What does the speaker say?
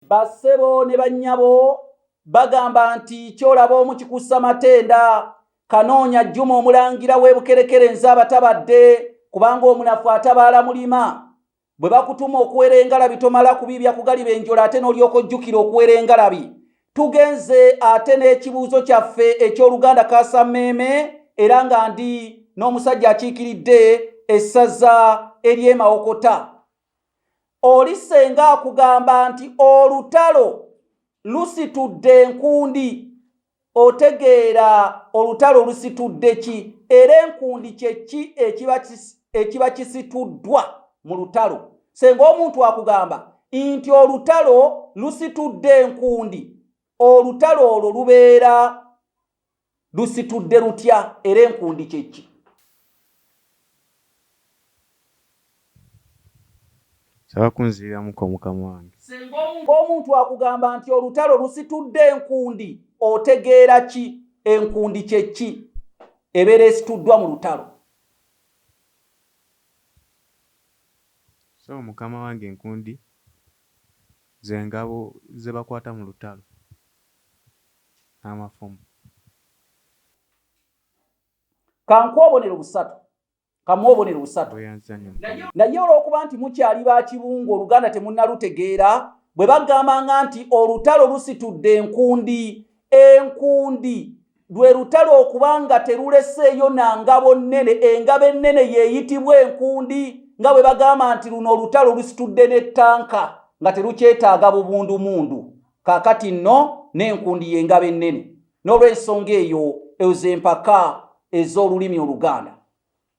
bassebo ne bannyabo bagamba nti kyolaba omu kikussa matenda kanoonya jjuma omulangira w'ebukerekere nze abatabadde kubanga omunafu atabaala mulima bwe bakutuma okuwera engalabi tomala kubiibya kugaliba enjola ate n'olyoka ojjukira okuwera engalabi tugenze ate n'ekibuuzo kyaffe eky'oluganda kasammeeme era nga ndi n'omusajja akiikiridde essaza ery'emawokota oli senga akugamba nti olutalo lusitudde enkundi otegeera olutalo lusitudde ki era enkundi kyeki ekiba kisituddwa mu lutalo senga omuntu akugamba nti olutalo lusitudde enkundi olutalo olwo lubeera Lusitudde lutya era enkundi kye ki? Saba kunziriramuko mukama wange. Singa omuntu akugamba nti olutalo lusitudde enkundi, otegeera ki? Enkundi kye ki? Ebeera esituddwa mu lutalo. So mukama wange enkundi ze ngabo ze bakwata mu lutalo. n'amafumu. Ka nkuwe obubonero busatu. Ka mmuwe obubonero busatu. Naye olw'okuba nti mukyali ba kibungu, oluganda temunnalutegeera, bwe bagambanga nti olutalo lusitudde enkundi, enkundi lwe lutalo okuba nga teruleseeyo na ngabo nnene, engabo ennene y'eyitibwa enkundi, nga bwe bagamba nti luno olutalo lusitudde ne ttanka nga terukyetaaga bubundumundu. kaakati nno n'enkundi y'engabo ennene n'olw'ensonga eyo ezo empaka ez'olulimi oluganda